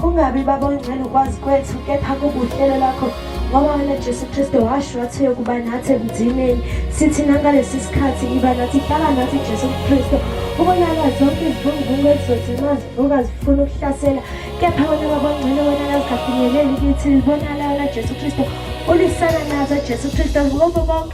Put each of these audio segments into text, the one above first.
kungabi baba ongcwele ukwazi kwethu kepha kubuhlelo lakho ngoba wena jesu kristu washo wathi yokuba nathi ebudineni sithi nangalesi sikhathi iba nathi hlala nathi jesu kristu ubonaka zonke izivunguvungu ezizothi nxa zivuka zifuna ukuhlasela kepha wena baba ongcwele wena kazingafinyeleli kithi libonala wena jesu kristu ulisana nazo jesu kristu ngobo bonke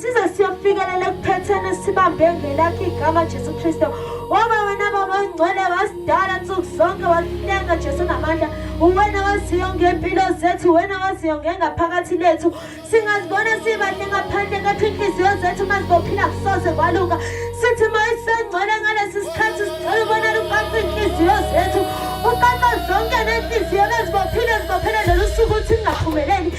size siyofikelela ekuphetheni sibambe ngelakho igama Jesu Kristo waba wena baba ongcwele wasidala nsuku zonke wasilenga Jesu namandla uwena waziyo ngempilo zethu wena waziyo ngengaphakathi lethu singazibona sibahle ngaphandle kepha inhliziyo zethu uma zibophila kusoze kwalunga sithi uma isengcwele ngalesi sikhathi sicela ubona luqaqe inhliziyo zethu uqaqa zonke nenhliziyo bezibophile zibophele lolu suku ukuthi ingaphumeleli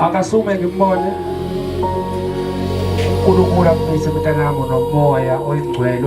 akasume ngimbone uNkulunkulu akumise mntanami nomoya oyingcwele